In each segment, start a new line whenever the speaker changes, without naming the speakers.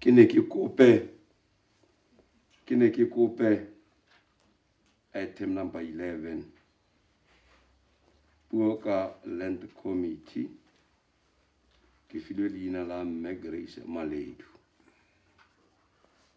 ke ne ke kope ke ne ke kope item number 11 puo ka land committee ke filwe leina la mme grace maledu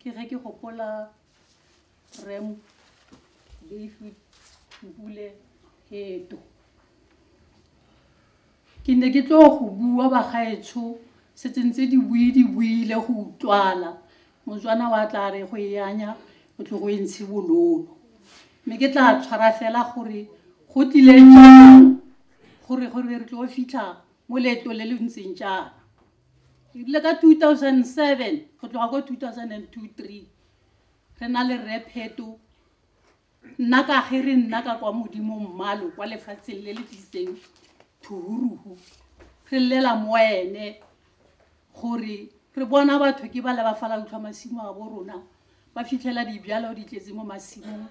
Ke ge ke gopola Rem David Mpule Heto. Ke ne ke tlo go bua bagaetsho setse ntse di bue di buile go utlwala motswana wa tla re go e anya o tlo go e ntshe bololo mme ke tla tshwara fela gore go tlileng gore gore re tlo fitlha mo leeto le le ntseng jaana ebile ka 2007 go tloga ko 2002 re na le rre pheto nna ka ge re nna ka kwa modimo mmalo kwa lefatsheng le le tlisitseng thuhuruhu re llela mo ene gore re bona batho ke ba le ba fala utlwa masimo a bo rona ba fitlhela dibjalo di tletse mo masimong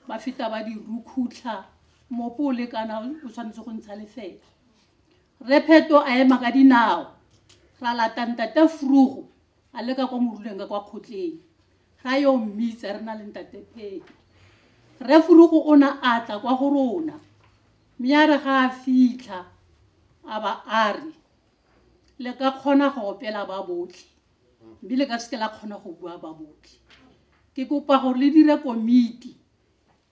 ba feta ba di rukhutlha mopo o lekana o tshwanetse go ntsha lefela Rre Pheto a ema ka dinao, ra lata Ntate Vruggo a le ka kwa moruleng ka kwa kgotleng, ra yo mmitsa re na le Ntate Pheto. Rre Vruggo o na a tla kwa go rona, mme a re ga a fitlha a ba a re, Le ka kgona go opela ba botlhe, mme le ka seke la kgona go bua ba botlhe. Ke kopa gore le dire komiti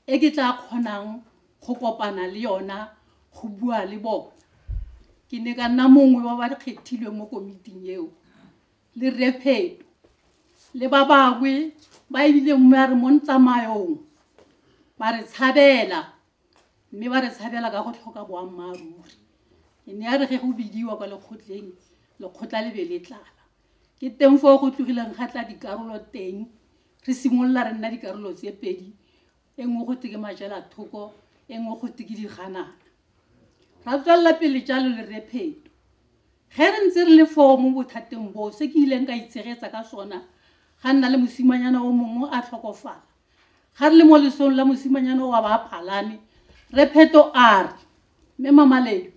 e ke tla kgonang go kopana le yona go bua le bona ke ne ka nna mongwe wa ba kgethilweng mo komiting eo le repheto le ba bangwe ba ebile mme a re mo ntsamaong ba re tshabela mme ba re tshabela ka go tlhoka boammaaruri e ne ya re ge go bidiwa kwa lekgotleng lekgotla le be le tlala ke teng foo go tlogileng ga tla dikarolo teng Re simolola re nna dikarolo tse pedi, e nngwe go teke majela thoko, e nngwe go teke diganana. Ra tswelela pele jalo le Rre Pheto. Ge re ntse re le foo mo bothateng boo, se ke ileng ka itshegetsa ka sona, ga nna le mosimanyana o mongwe a tlhokofala. Ga re le mo lesong la mosimanyana wa ba a palame, Rre Pheto a re, Mme Mamaledu,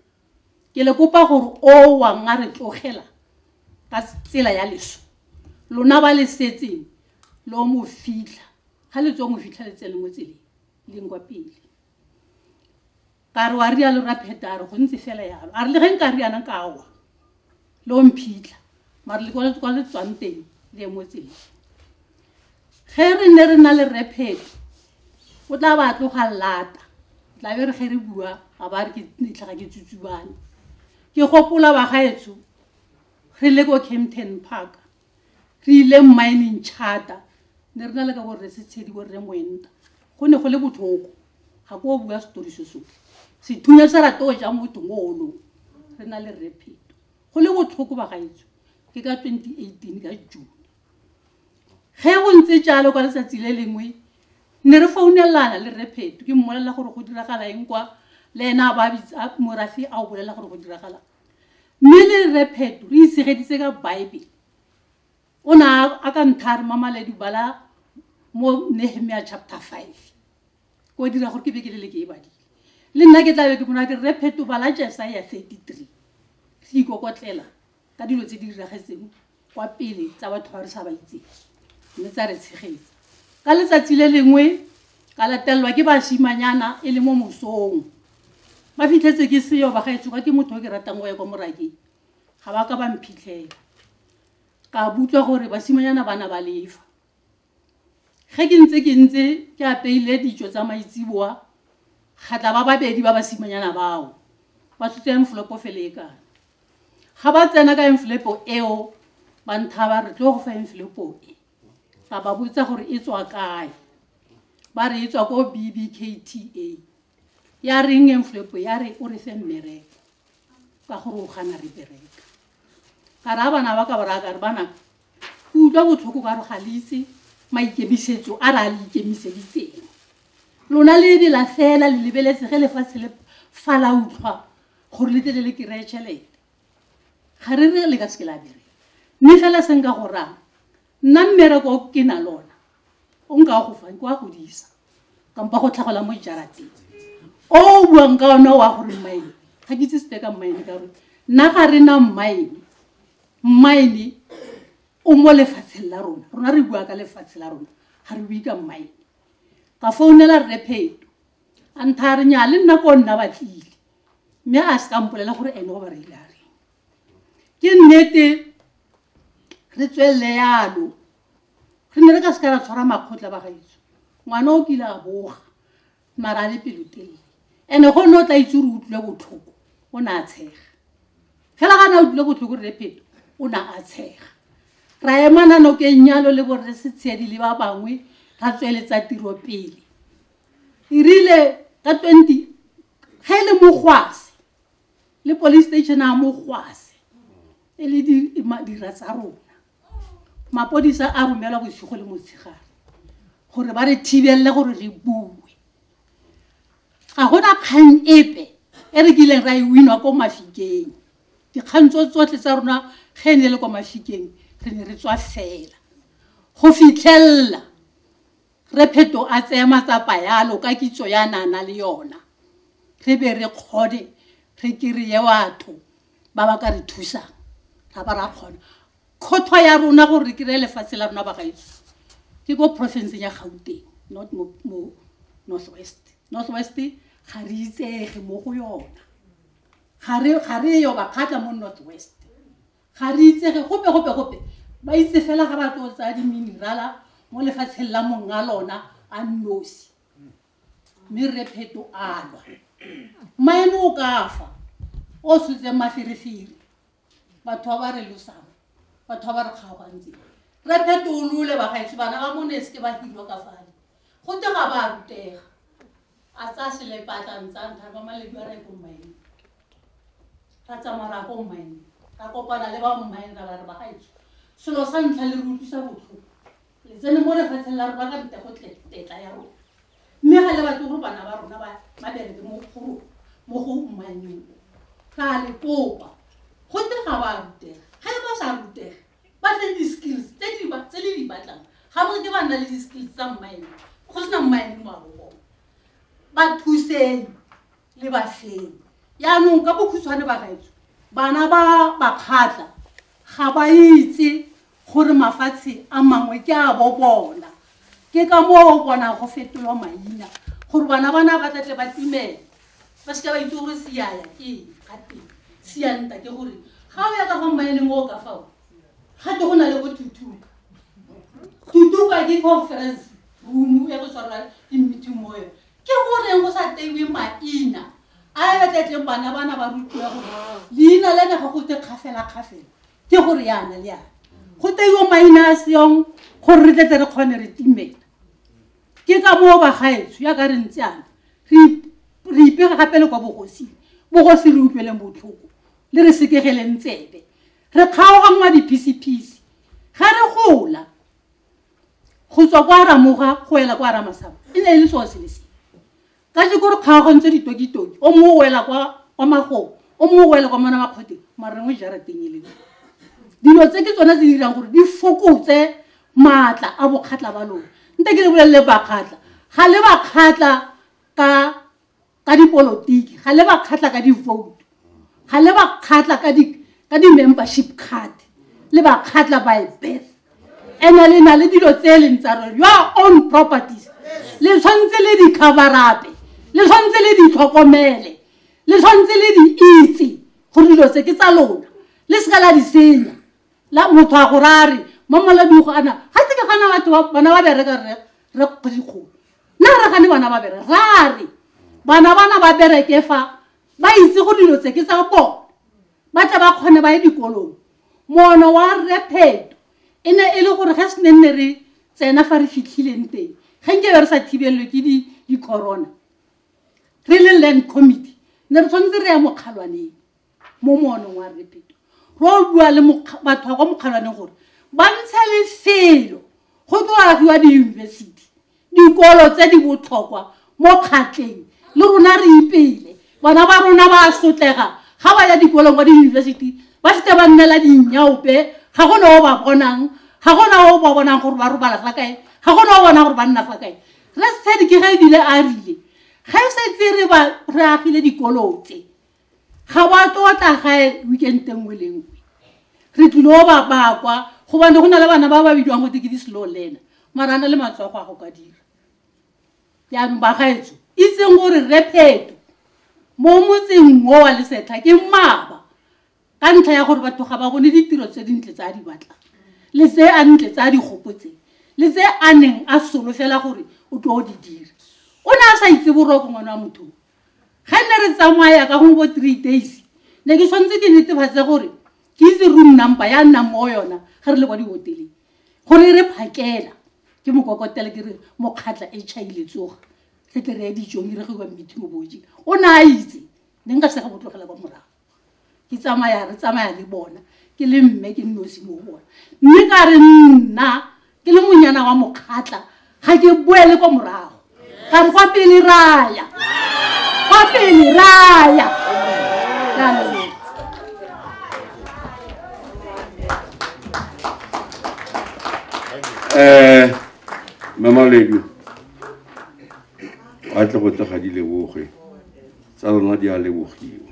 ke le kopa gore o wa nga re tlogela ka tsela ya leso lona ba le setseng lo mo fitlha ga le tswa mo fitlha le tsene mo tseleng leng kwa pele ka re wa rialo ra pheta a re go ntse fela yalo a re le ge nka riana ka wa le o mphitlha mare le kwa le tswang teng le emotseng ge re ne re na le repheto o tla ba tloga lata tla be re ge re bua ga ba re ke ditlhaga ke tsutsubane ke gopola bagaetsho re le ko campton park re ile mining charter ne re na le ka borre setshedi borre moenta go ne go le botlhoko ga ko o bua setori se so sethunya sa rate o ja motho mo olong re na le rre pheto go le botlhoko ba gaetso ke ka 2018 ka june ge go ntse jalo ka letsatsi le lengwe ne re founelana le rre pheto ke mmolelela gore go diragala eng kwa le ena a ba morafi a o bolelela gore go diragala Mme le Rre Pheto re itshegeditse ka Baebele. O ne a ka ntha a re, Mama Ledu, bala mo Nehemia chapter 5. Ko dira gore ke be ke le le ke e badile. Le nna ke tla be ke bona ke Rre Pheto bala Jesaia 33. Re ikokotlela ka dilo tse di diragetseng kwa pele tsa batho ba re sa ba itseng mme tsa re tshegetsa ka letsatsi le lengwe ka latelelwa ke basimanyana e le mo mosong ba fitlhetse ke seyo ba gaetso ka ke motho o ke ratang go ya kwa morake ga ba ka ba mphitlhela ka butlwa gore basimanyana bana ba lefa Ge ke ntse ke ntse ke apeile ditšo tsa maitseboa, ga tla ba babedi ba basimanyana bao ba tlotla enflopo felekana. Ga ba tsena ka enflopo eo, ba nthaba re tlo go fa enflopo e. Ka ba botsa gore e tswa kae, ba re e tswa ko BBKTA. Ya reng enflopo? Ya re o re fe mmereko ka gore o gana re bereka. Ka ra bana ba ka ba raya ka re bana Ke utlwa botlhoko ka gore ga le itse maikemisetso a re a le ikemiseditseng. Lona le ebela fela le lebeletse ge lefatshe le fa la utlwa gore le tlele le kry-e tšhelete. Ga re re le ka seke la bereka. Mme fela se nka go raya, nna mmereko o ke na lona o nka go fang ke wa go disa kampa go tlhagola mo jarateng. O o buang ka one wa gore mmaene, ga ke itse sepe ka mmaene ka gore nna ga re na mmaene. Mmaene o mo lefatsheng la rona. Rona re bua ka lefatshe la rona. Ga re bue ka mmaene. Ka founela Rre Pheto. A ntha re nya le nna ko nna batlile. Mme a se ka mpolela gore ene o ba reile a reng. Ke nnete re tswelele yalo. Re ne re ka se ka ra tshwara makgotla ba gaetsho. Ngwana o kile a boga. mara a le pelotelele and-e go nne o tla itse ore o tlile botlhoko o ne a tshega fela ga na o tlile botlhoko rre pheto o ne a tshega ra emana nokeng nyalo le borre setshedi le ba bangwe ra tsweletsa tiro pele e rile ka twenty ge e le mogwase le police station a mogwase e le dira tsa rona mapodisa a romelwa bosigo le motshegare gore ba re thibelele gore re bue ga gona kgang epe e re kileng ra e winwa ko mafikeng dikgang tso tsotlhe tsa rona ge e ne le kwa mafikeng re ne re tswa fela go fitlhelela re pheto a tseye matsapa yalo ka kitso ya nana le yona re be re kgone re kry-e batho ba ba ka re thusang ga ba ra kgona kgotho ya rona gore re kry-e lefatshe la rona bagaetso ke ko porofenseng ya gauteng not mo north west north west ga re itsege mo go yona ga re yo bakgatla mo north west ga re itsege gope gope gope ba itse fela ga ba tlo tsaya di-minerala mo lefatsheng la mong a lona a nosi mme re pheto alwa maene o ka fa o setseng maferefere batho ba ba re losang batho ba ba re kgaogantse re phetolole bagaetsho bana ba mone e seke ba hirwa ka fale go te ga ba rutega a tsa selepatlang tsa ntlha ba maledu a reko mmaene ra tsamaya ra ko mmaene ra kopana le ba mmaene ra ba re bagaetsho selo sa ntlha le re utlwisa botlhoko le tsene mo lefatsheng la rona ka bita go tetla ya rona mme ga le batle gore bana ba rona ba bereke mo go mo go mmanyeng ra le kopa go te ga ba rutega ga e ba sa rutega ba tle di-skills tse di ba tse le di batlang ga bo ke ba nna le di-skills tsa mmaene go sena mmaene mo a bogone ba thuseng le batlheng yaanong ka bokhutshwane bagaetso bana ba bakgatla ga ba itse gore mafatshe a mangwe ke a bo bona ke ka moo bona go fetolwa maina gore bana bana ba tlatle ba timela ba seka ba itse gore seaya ke gateng sianta ke gore ga o ya ka fa mmaeneng o ka fao gate go na le go tutuka tutuka ke conference room ya go tshwarwa ke meeting moyo ke goreng go sa teiwe maina a e batlatleng bana bana ba rutiwa gore leina le ne go go te kgafelakgafela ke gore yana le yana go teiwe maina a seong gore re tletle re kgone re timela ke ka moo bagaetso ya ka re ntse ana re ipega gape le kwa bogosing bogosi re utlweleng botlhoko le re sekegeleng tsebe re kgaoganngwa diphisephise ga re gola go tswa kwa ramoga go wela kwa ramasaba e ne e le sewa sele se ka je kore kgaogantse ditokitoki o mongwe o wela kwa kwa magong o mongwe o wela kwa mona makgoteng mara rengwe jarateng e leng dilo tse ke tsone tse di dirang gore di fokotse maatla a bokgatlha ba lone nte ke le bolelele bakgatlha ga le bakgatlha ka ka dipolotiki ga le ba kgatla ka di-vote ga le ba kgatla ka di ka di-membership card le ba kgatla by birth and-e le na le dilo tse e leng tsa rona your own properties le tshwanetse le di coverape le tshwanetse le di tlhokomele le tshwanetse le di itse gore dilo tse ke tsa lona le seka la di senya la motho a go rare mo moladugo ana ga se ke gana batho ba- bana ba bereka re re kgwedikgolo nna re gane bana ba bereka rare bana bana ba bereke fa ba itse go dilo tse ke tsa bone ba tle ba kgone ba ye dikolong mono wa rre pheto e ne e le gore ge se ne nne re tsena fa re fitlhileng teng ge nkebe re sa thibelelwe ke di- di-corona re le land committee ne re tshwanetse re ya mokgalwaneng mo moolong wa repeto ro bua le batho ba kwa mokgalwaneng gore ba ntshe lefelo go tlo agiwa diyunibesithi dikolo tse di botlhokwa mo kgatleng le rona re ipele bona ba rona ba sotlega ga ba ya dikolong kwa diyunibesithi ba sete ba nnela dinnyaope ga go ne o ba bonang ga go na o ba bonang gore ba robala fa kae ga go na o bona gore ba nna fa kae re sedi ke ge ebile a rile ge setse re agile dikolo tse ga wa tlotla gae weekend e nngwe le nngwe re tlile o ba bakwa gobane go na le bana ba ba bidiwang go teke di-slow learner mara a na le matsogo a go ka dira jaanong bagaetso itseng gore repheto mo motseng o wa lesetlha ke maba ka ntlha ya gore batho ga ba bone ditiro tse dintle tse a di batlang le tse a ntle tse a di gopotseng le tse a neng a solofela gore o tlo o di dira o ne a sa itse boroko ngwana wa motho ga nne re tsamaya ka gongwe bo three days ne ke tshwanetse ke netefatse gore ke itse room number ya nnang mo yona ga re le kwa dihoteleng gore e re phakela ke mokokotela ke re mokgatla e chaile tsoga re tle re ya dijong e re ge kwa mmithiboboji o ne a itse ne nka sega botlogela kwa morago ke tsamaya re tsamaya le bona ke le mme ke nnosi mo bona mme ka re nna ke le monyana wa mokgatla ga ke boele kwa morago ka re kwa pele raya kwa pele raya
eh mama ledu a tle go tega di leboge tsa lona di a lebogiwa